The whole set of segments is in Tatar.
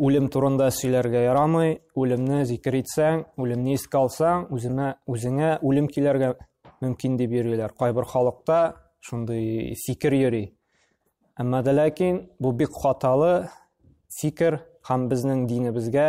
Үлем турында сөйләргә ярамый, үлемне зикер итсәң, үлемне искә алсаң, үземә, үзеңә үлем килергә мөмкин дип йөриләр. Кайбер халыкта шундый фикер йөри. Әмма дә ләкин бу бик хаталы фикер һәм безнең динебезгә,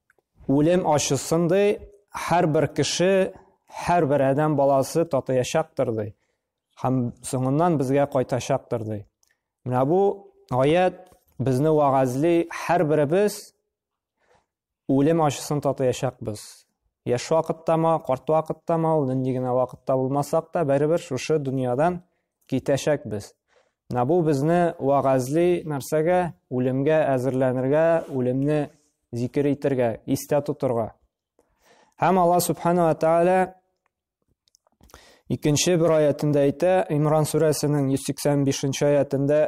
Үлем ачысын ди, һәрбер кеше, һәрбер адәм баласы татыячактыр ди. Һәм соңыннан безгә кайтачактыр ди. Менә бу аят безне вагазли, һәрберебез үлем ачысын татыячакбыз. Яш вакыттамы, карт вакыттамы, ул нинди генә вакытта булмасак та, барыбер шушы дөньядан китәчәкбез. Менә бу безне вәгазьли нәрсәгә? Үлемгә әзерләнергә, үлемне зикер итәргә, истә тотырга. Һәм Алла Субхану ва Тааля икенче бер аятында әйтә, Имран сүрәсенең 185 нче аятында,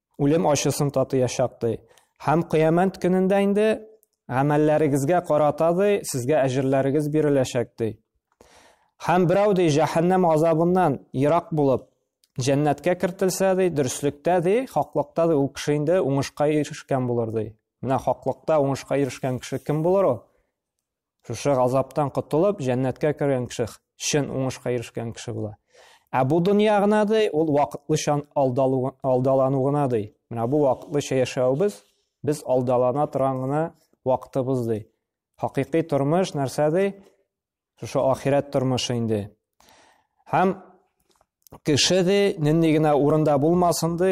үлем ачысын татыячак ди. Һәм кыямәт көнендә инде гамәлләрегезгә карата ди, сезгә әҗерләрегез биреләчәк ди. Һәм берәү ди җәһәннәм азабыннан ерак булып, җәннәткә кертелсә ди, дөреслектә ди, хаклыкта ди, ул кеше инде уңышка ирешкән булыр ди. Менә хаклыкта уңышка ирешкән кеше кем булыр ул? Шушы газаптан котылып, җәннәткә кергән кеше чын уңышка ирешкән кеше була. Ә бу дөнья гына ди, ул вакытлыча алдалану гына ди. Менә бу вакытлыча яшәвебез без алдалана торган гына вакытыбыз ди. Хакыйкый тормыш нәрсә ди? Шушы ахирәт тормышы инде. Һәм кеше ди, нинди генә урында булмасын ди,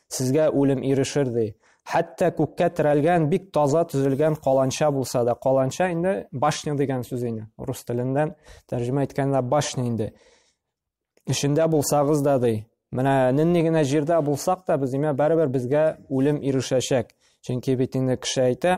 Сезгә үлем ирешер, ди. Хәтта күккә терәлгән бик таза төзелгән каланча булса да, каланча инде башня дигән сүз инде. Рус теленнән тәрҗемә иткәндә башня инде. Эшендә булсагыз да ди. Менә нинди генә җирдә булсак та, без имә бәрбер безгә үлем ирешәчәк. Чөнки бит инде кеше әйтә,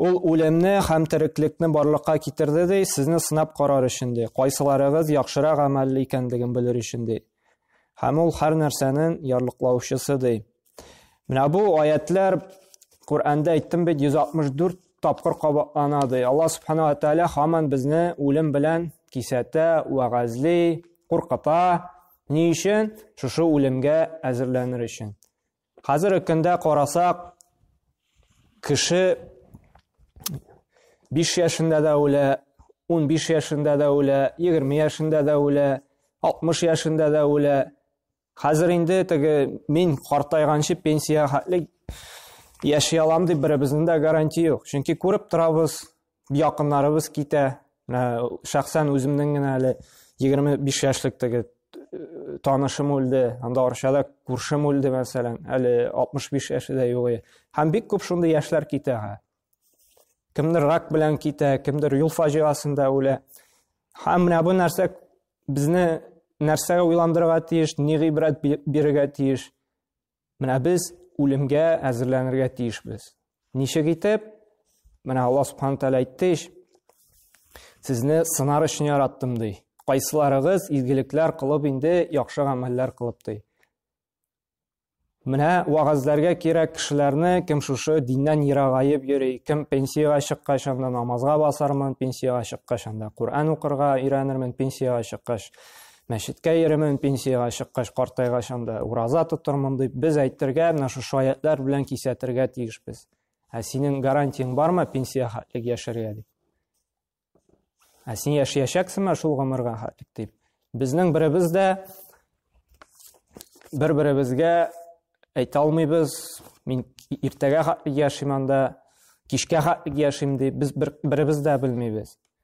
Ул үлемне һәм тереклекне барлыкка китерде ди, сезне сынап карар өчен ди, кайсыларыгыз яхшырак гамәлле икәнлеген белер өчен ди. Һәм ул һәр нәрсәнең ярлыклаучысы ди. Менә бу аятлар Коръәндә әйттем бит 164 тапкыр кабатлана ди. Алла субхана ва тааля хаман безне үлем белән кисәтә, вәгазли, куркыта. Ни өчен? Шушы үлемгә әзерләнер өчен. Хәзер икендә карасак, кеше 5 яшендә дә үлә, 15 яшендә дә үлә, 20 яшендә дә үлә, 60 яшендә дә үлә. Хәзер инде теге мин картайганчы пенсия хәтле яши алам дип беребезнең дә гарантия юк. Чөнки күреп торабыз, якыннарыбыз китә. Шәхсән үземнең генә әле 25 яшьлек теге э, танышым үлде, анда Арчада күршем үлде, мәсәлән, әле 65 яше дә юк. Һәм бик күп шундый яшьләр китә. Кемдер рак белән китә, кемдер юл фаҗигасында үлә. Һәм менә бу нәрсә безне нәрсәгә уйландырырга тиеш, ни гыйбрәт бирергә тиеш? Менә без үлемгә әзерләнергә тиешбез. Ничек итеп? Менә Аллаһ Субхану Тәгалә әйтте, Сезне сынар өчен яраттым ди. Кайсыларыгыз изгелекләр кылып инде яхшы гамәлләр кылып ди. Менә вагазларга кирәк кешеләрне кем шушы диннән ерагаеп йөри, кем пенсияга чыккач анда намазга басармын, пенсияга чыккач анда Коръән укырга өйрәнермен, пенсияга чыккач мәчеткә йөремен, пенсиягә чыккач, картайгач анда ураза тотырмын дип, без әйтергә, менә шушы аятьләр белән кисәтергә тиешбез. Ә синең гарантияң бармы пенсия хәтлек яшәргә дип? Ә син яшәячәксеңме шул гомергә хәтлек дип? Безнең беребез дә бер-беребезгә әйтә алмыйбыз. Мин иртәгә хәтлек яшим анда, кичкә хәтлек яшим дип, без бер, беребез дә белмибез.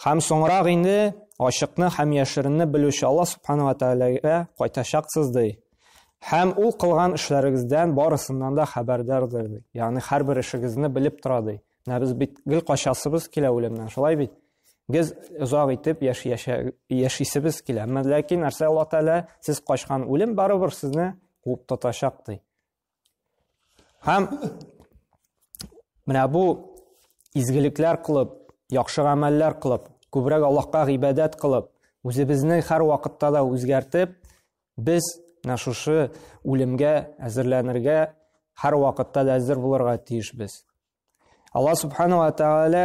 Һәм соңрак инде ачыкны һәм яшеренне белүче Алла Субхану ва Тәгаләгә кайтачаксыз ди. Һәм ул кылган эшләрегездән барысыннан да хәбәрдардыр ди. Ягъни һәрбер эшегезне белеп тора ди. Менә без бит гел качасыбыз килә үлемнән, шулай бит? Без озак итеп яши яшисебез килә. Әмма ләкин нәрсә Алла Тәгалә сез качкан үлем барыбер сезне куып тотачак ди. Һәм менә бу изгелекләр кылып, яхшы гамәлләр кылып, күбрәк Аллаһка гыйбадәт кылып, үзебезне һәр вакытта да үзгәртеп, без менә шушы үлемгә әзерләнергә, һәр вакытта да әзер булырга тиешбез. Алла субхана ва тәгалә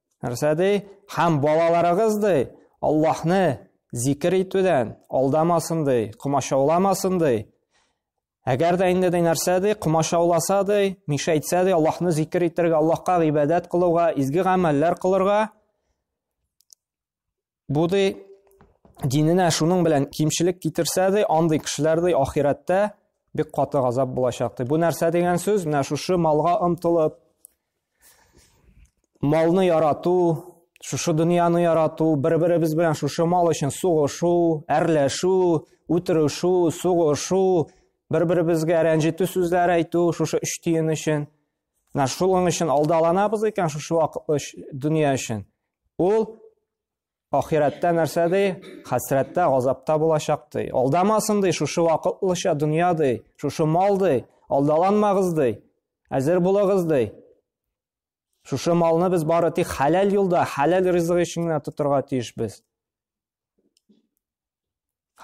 нәрсә ди һәм балаларыгыз ди аллаһны зикер итүдән алдамасын ди комачауламасын ди әгәр дә инде ди нәрсә ди комачауласа ди мишәйтсә ди аллаһны зикер итәргә аллаһка гыйбадәт кылуга изге гамәлләр кылырга Бу ди диненә шуның белән кимчелек китерсә ди, андый кешеләр ди ахирәттә бик каты газап булачак ди. Бу нәрсә дигән сүз? Менә шушы малга омтылып, малны ярату, шушы дөньяны ярату, бер-беребез белән шушы мал өчен сугышу, әрләшү, үтерүшү, сугышу, бер-беребезгә рәнҗетү сүзләр әйтү, шушы өч тиен өчен. Менә шуның өчен алдаланабыз икән шушы вакытлы дөнья өчен. Ул ахирәттә нәрсә ди? Хәсрәттә, газапта булачак ди. Алдамасын ди, шушы вакытлыча дөнья ди, шушы мал ди, алдаланмагыз ди. Әзер булыгыз ди. Шушы малны без бары тик хәләл юлда, хәләл ризык өчен генә тотырга тиешбез.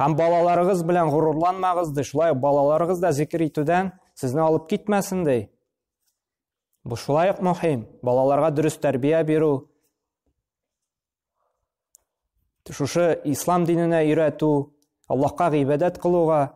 Һәм балаларыгыз белән горурланмагыз ди, шулай балаларыгыз да зикер итүдән сезне алып китмәсен ди. Бу шулай ук мөһим. Балаларга дөрес тәрбия бирү, шушы ислам диненә өйрәтү, Аллаһка гыйбадәт кылуга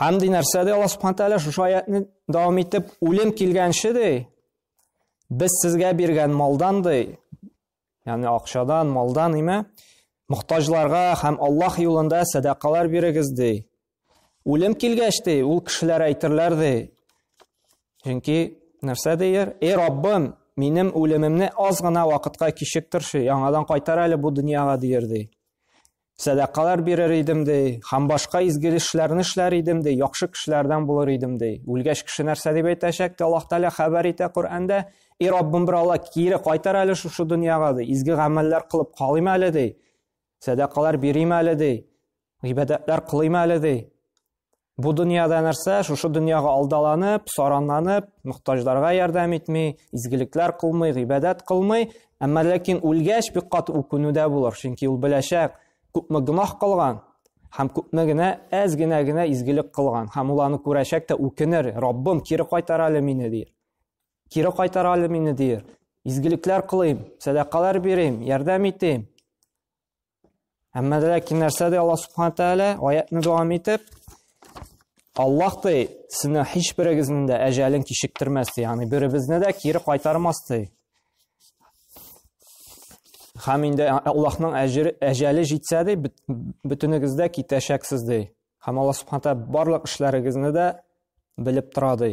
Һәм ди нәрсә ди Аллаһ Субхану Тәгалә шушы аятны дәвам итеп, үлем килгәнче ди, без сезгә биргән малдан ди, ягъни акчадан, малдан име, мохтаҗларга һәм Аллаһ юлында сәдакалар бирегез ди. Үлем килгәч ди, ул кешеләр әйтерләр ди. Чөнки нәрсә дияр? Эй Раббым, минем үлемемне аз гына вакытка кичектерче, яңадан кайтар әле бу дөньяга дияр ди. Сәдакалар бирер идем, ди, һәм башка изге эшләрне эшләр идем, ди, яхшы кешеләрдән булыр идем, ди. Үлгәч кеше нәрсә дип әйтәчәк, ди, Аллаһ Тәгалә хәбәр итә Коръәндә, И Раббым, бер Алла кире кайтар әле шушы дөньяга, ди, изге гамәлләр кылып калыйм әле, ди, сәдакалар бирим әле, ди, гыйбадәтләр кылыйм әле, ди. Бу дөньяда нәрсә? Шушы дөньяга алдаланып, саранланып, мохтаҗларга ярдәм итми, изгелекләр кылмый, гыйбадәт кылмый, әмма ләкин үлгәч бик кат үкүнүдә булыр, чөнки ул беләчәк, күпме гөнаһ кылган, һәм күпме генә әз генә генә изгелек кылган һәм ул аны күрәчәк тә үкенер раббым кире кайтар әле мине дир кире кайтар әле мине дир изгелекләр кылыйм сәдакалар бирим ярдәм итим Әмма дә ләкин нәрсә ди Аллаһ Субхану Тәгалә аятны дәвам итеп, Аллаһ ди, сезне һич берегезнең дә әҗәлен кичектермәс ди, ягъни беребезне дә кире кайтармас ди. Хәм инде Аллаһның әҗәле җитсә ди, бөтенегез дә китәчәксез ди. Хәм Аллаһ Субхану Тәгалә барлык эшләрегезне дә белеп тора ди.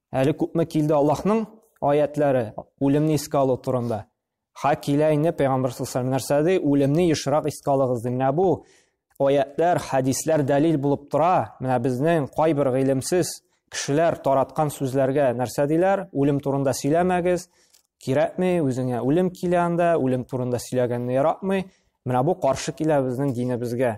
Әле күпме килде Аллаһның аятләре үлемне искә алу турында. Ха килә инде пәйгамбәр саллаллаху нәрсә ди, үлемне ешрак искә алыгыз ди. Менә бу аятлар, хәдисләр дәлил булып тора. Менә безнең кайбер гыйлемсез кешеләр тараткан сүзләргә нәрсә диләр? Үлем турында сөйләмәгез. Кирәкми, үзеңә үлем килә анда, үлем турында сөйләгәнне яратмый. Менә бу каршы килә безнең динебезгә.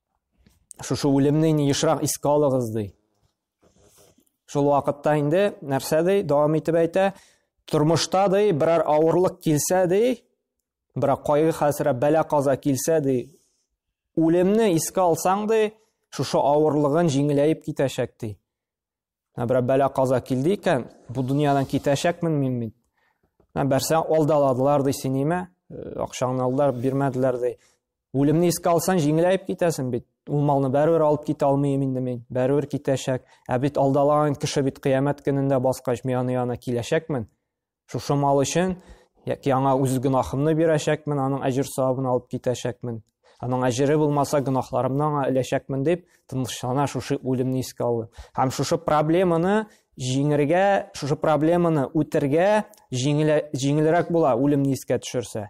Шушы үлемне инде ешрак искә алыгыз ди. Шул вакытта инде нәрсә ди, дәвам итеп әйтә, тормышта ди, берәр авырлык килсә ди, берәр кайгы хәсрә бәла каза килсә ди, үлемне искә алсаң ди, шушы авырлыгын җиңеләеп китәчәк ди. Менә берәр бәла каза килде икән, бу дөньядан китәчәкмен мин бит. Менә бәрсә алдаладылар ди синиме? Э, акчаңны алдылар, бирмәделәр ди. Үлемне искә алсаң, җиңеләеп китәсең бит. Ул малны бәрәбер алып китә алмыйм инде мин. Бәрәбер китәчәк. Ә бит алдалаган кеше бит кыямәт көнендә баскач, мин аны янына киләчәкмен. Шушы мал өчен яки аңа үз гөнаһымны бирәчәкмен, аның әҗер савабын алып китәчәкмен. Аның әҗере булмаса, гөнаһларымны аңа эләчәкмен дип, тынычлана шушы үлемне искә алды. Һәм шушы проблеманы җиңергә, шушы проблеманы үтергә җиңелрәк була үлемне искә төшерсә.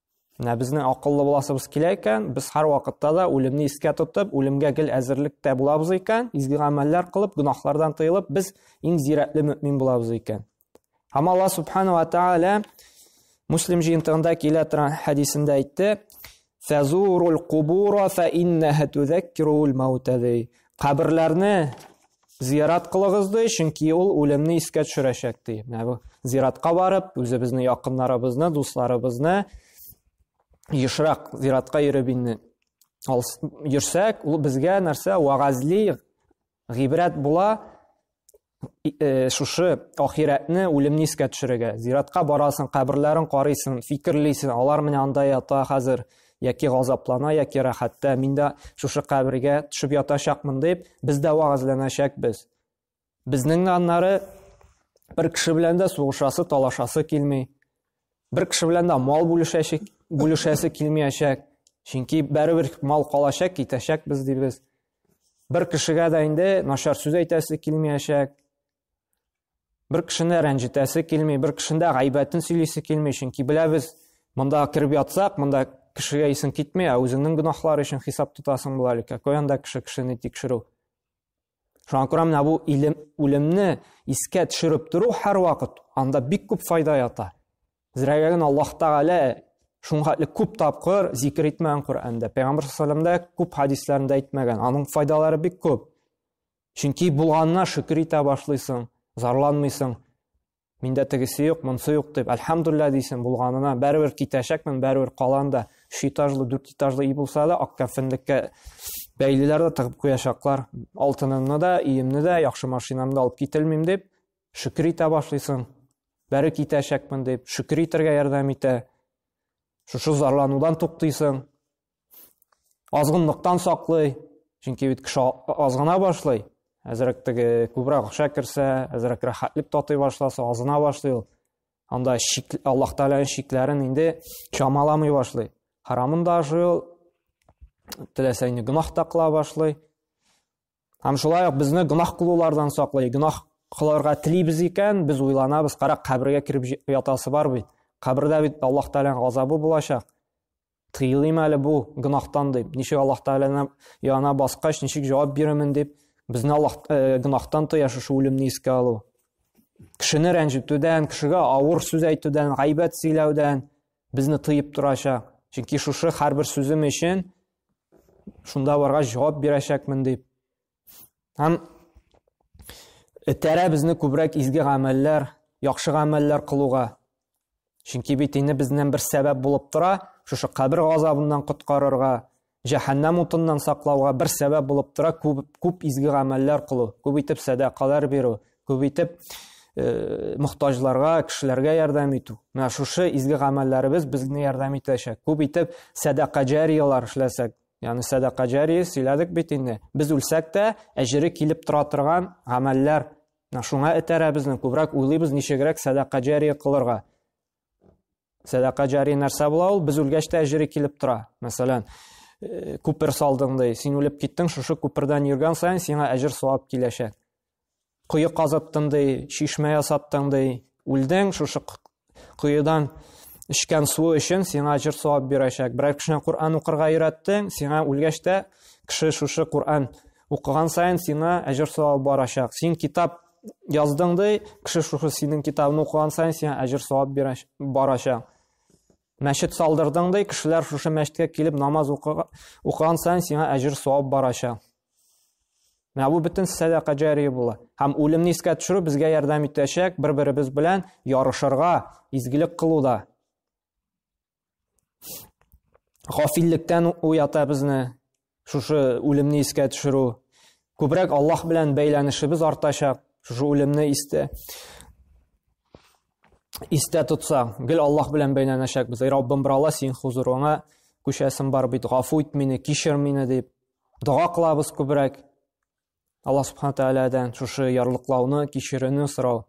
Менә безнең акыллы буласыбыз килә икән, без һәр вакытта да үлемне искә тотып, үлемгә гел әзерлектә булабыз икән, изге гамәлләр кылып, гөнаһлардан тыелып, без иң зирәтле мөмин булабыз икән. Һәм Алла субхана ва тааля Муслим җыентыгында килә торган хәдисендә әйтте: "Фазурул кубура фа иннаха тузаккирул маутади". Каберләрне Зиярат кылыгыз ди, чөнки ул үлемне искә төшерәчәк ди. Менә бу зиратка барып, үзебезне, якыннарыбызны, дусларыбызны ешрак зиратка йөреп инде йөрсәк, ул безгә нәрсә вагазли, гыйбрәт була, э, шушы ахирәтне, үлемне искә төшерергә. Зиратка барасың, каберләрен карыйсың, фикерлисең, алар менә анда ята хәзер, яки газаплана, яки рәхәттә, мин дә шушы кабергә төшеп ятачакмын дип, без дә вәгазьләнәчәкбез. Безнең дә аннары бер кеше белән дә сугышасы, талашасы килми. Бер кеше белән дә мал бүлешәчек, бүлешәсе килмиячәк. Чөнки бәребер мал калачак, китәчәк без дибез. Бер кешегә дә инде начар сүз әйтәсе килмиячәк. Бер кешене рәнҗетәсе килми, бер кешендә гайбәтен сөйлисе килми, чөнки беләбез, монда кереп ятсак, монда кешегә исең китми, ә үзеңнең гөнаһлар өчен хисап тотасың була әле, какой анда кеше кешене тикшерү. Шуңа күрә менә бу илем, үлемне искә төшереп тору һәрвакыт анда бик күп файда ята. Зрәгә генә Аллаһ Тәгалә шуңа әле күп тапкыр зикер итмәгән Коръәндә. Пәйгамбер саллаллаһу алейһи күп хәдисләрендә әйтмәгән. Аның файдалары бик күп. Чөнки булганына шөкер итә башлыйсың, зарланмыйсың. Миндә тегесе юк, монсы юк дип, альхамдулилла дисең булганына. Бәрбер китәчәкмен, бәрбер калан да, үч этажлы, дүрт этажлы ий булса да, ак кәфенлеккә бәйлиләр дә тыгып куячаклар. Алтынымны да, иемне дә, яхшы машинамны да алып кителмим дип, шөкер итә башлыйсың. Бәре китәчәкмен дип, шөкер итәргә ярдәм итә. Шушы зарланудан туктыйсың. азгынлыктан саклый чөнки бит кеше азгына башлый әзрәк теге күбрәк акча керсә әзрәк рәхәтлек татый башласа азына башлый ул анда шик, аллаһ тәгаләнең шикләрен инде чамаламый башлый харамын да ашый ул теләсә инде гөнаһ та кыла башлый һәм шулай ук безне гөнаһ кылулардан саклый гөнаһ кылырга телибез икән без уйланабыз карак кабергә кереп ятасы бар бит кабердә бит аллаһ тәгаләнең газабы булачак Тыелыйм әле бу гынахтан дип, ничек Аллаһ Тәгаләне яна баскач, ничек җавап бирәмен дип, безне Аллаһ э, гынахтан тыя шушы үлемне искә алу. Кешене рәнҗетүдән, кешегә авыр сүз әйтүдән, гайбәт сөйләүдән безне тыеп торачак. Чөнки шушы һәрбер сүзем өчен шунда баргач җавап бирәчәкмен дип, Һәм этәрә безне күбрәк изге гамәлләр, яхшы гамәлләр кылуга. Чөнки бит инде безнең бер сәбәп булып тора, шушы кабер газабыннан коткарырга, җәһәннәм утыннан саклауга бер сәбәп булып тора күп, күп изге гамәлләр кылу, күп итеп сәдакалар бирү, күп итеп э, мохтаҗларга, кешеләргә ярдәм итү. Менә шушы изге гамәлләребез безне ярдәм итәчәк. Күп итеп сәдака җариялар эшләсәк, Яны сәдака җария сөйләдек бит инде. Без үлсәк тә, әҗере килеп тора торган гамәлләр. Шуңа этәрә безне күбрәк уйлыйбыз, ничегрәк сәдака җария кылырга. Сәдака җария нәрсә була ул? Без үлгәч тә әҗере килеп тора. Мәсәлән, күпер салдың ди, син үлеп киттең, шушы күпердән йөргән саен сиңа әҗер савап киләчәк. Кое казыттың ди, чишмә ясаттың ди, үлдең шушы коедан эчкән су өчен сиңа җыр савап бирәчәк. Берәр кешене Коръән укырга өйрәттең, сиңа үлгәч тә кеше шушы Коръән укыган саен сиңа әҗер савап барачак. Син китап яздың ди, кеше шушы синең китабыңны укыган саен сиңа әҗер савап барачак. Мәчет салдырдың ди, кешеләр шушы мәчеткә килеп намаз укыган саен сиңа әҗер савап барачак. Менә бу бөтен сәдака җәрие була. Һәм үлемне искә төшерү безгә ярдәм итәчәк бер-беребез белән ярышырга, изгелек кылуда. Гафиллектән уята безне шушы үлемне искә төшерү. Күбрәк Аллаһ белән бәйләнешебез артачак шушы үлемне истә истә тотсак, гел Аллаһ белән бәйләнәчәкбез. Эй Раббым, бер Алла син хузурыңа күчәсем бар бит, гафу ит мине, кичер мине дип. Дога кылабыз күбрәк. Алла Субхану Тәгаләдән шушы ярлыклауны, кичерүне сорау.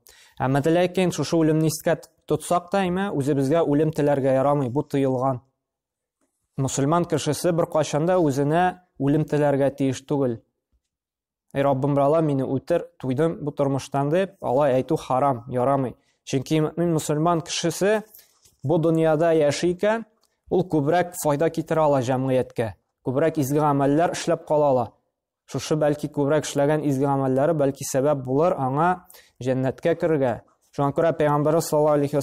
Әмма ләкин шушы үлемне искә тотсак та, әмма үзебезгә үлем теләргә ярамый, бу тыелган. Мусульман кешесе бер кайчанда үзенә үлем теләргә тиеш түгел. Эй Раббым, бирала мине үтер, туйдым бу тормыштан дип, алай әйтү харам, ярамый. Чөнки мөмин мусульман кешесе бу дөньяда яши икән, ул күбрәк файда китерә ала җәмгыятькә, күбрәк изге гамәлләр эшләп кала ала. Шушы бәлки күбрәк эшләгән изге гамәлләре бәлки сәбәп булыр аңа җәннәткә керергә. Шуңа күрә Пәйгамбәрбез саллаллаһу алейхи ва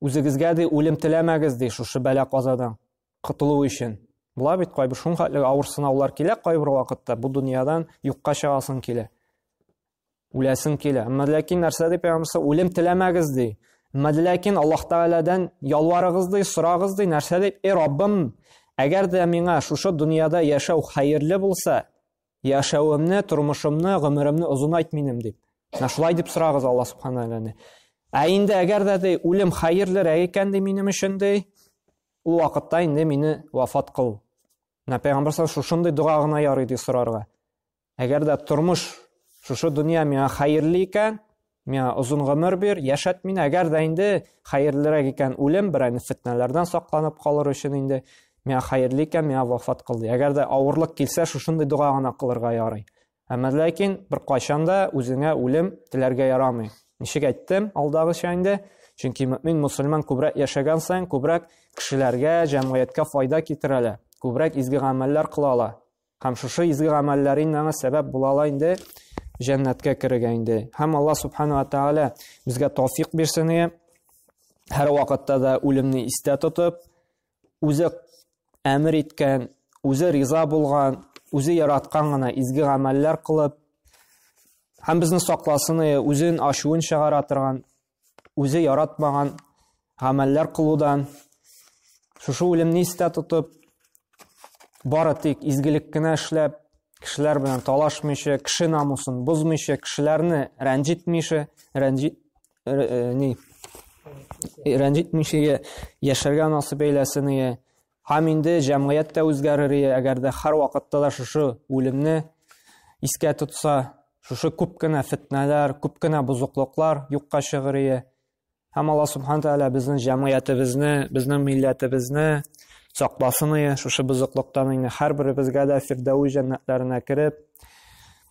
Үзегезгә, ди, үлем теләмәгез, ди, шушы бәла-казадан котылу өчен. Була бит, кайбер шунхатлы авыр сынаулар килә кайбер вакытта, бу дөньядан юкка чыгасың килә. Үләсең килә. Әмма ләкин нәрсә дип ягымсы, үлем теләмәгез ди. Әмма ләкин Аллаһ Тәгаләдән ялварыгыз ди, сорагыз ди, нәрсә дип, "Эй Раббым, әгәр дә миңа шушы дөньяда яшәү хәерле булса, Яшәвемне, тормышымны, гомеремне озынайт минем дип. Менә шулай дип сорагыз Алла субхана тәгаләне. Ә инде әгәр дә ди үлем хәерлерәк икән ди минем өчен ди, ул вакытта инде мине вафат кыл. Менә пәйгамбәр шушындый дога гына ярый ди сорарга. Әгәр дә тормыш шушы дөнья миңа хәерле икән, Миңа озын гомер бир, яшәт мине, әгәр дә инде хәерлерәк икән үлем, берәйне фетнәләрдән сакланып калыр өчен инде, миңа хәерле икән, миңа вафат кыл ди. Әгәр дә авырлык килсә, шушындый дога гына кылырга ярый. Әмма ләкин бер кайчан да үзеңә үлем теләргә ярамый. Ничек әйттем, алдагыча инде, чөнки мөмин мусульман күбрәк яшәгән саен, күбрәк кешеләргә, җәмгыятькә файда китерәләр, күбрәк изге гамәлләр кылалар. Һәм шушы изге гамәлләрен аңа сәбәп була ала инде җәннәткә керергә инде. Һәм Аллаһ субхана ва тааля безгә тауфик бирсен иде. Һәр вакытта да үлемне истә тотып, үзе әмер иткән, үзе риза булган, үзе яраткан гына изге гамәлләр кылып, һәм безне сакласын иде, үзен ачуын чыгара торган үзе яратмаган гамәлләр кылудан, шушы үлемне истә тотып, бары тик изгелек кенә эшләп, кешеләр белән талашмыйча, кеше намусын бозмыйча, кешеләрне рәнҗетмичә, рәнҗит э, э, ни рәнҗетмичә яшәргә насыйп әйләсен, Һәм инде җәмгыять тә үзгәрерие, әгәр дә һәрвакытта да шушы үлемне искә тотса, шушы күп кенә фетнәләр, күп кенә бозыклыклар юкка чыгырые. Һәм Алла Субхан Тәгалә безнең җәмгыятебезне, безнең милләтебезне сакласын ие, шушы бозыклыктан инде һәрберебезгә дә фирдәү җәннәтләренә кереп,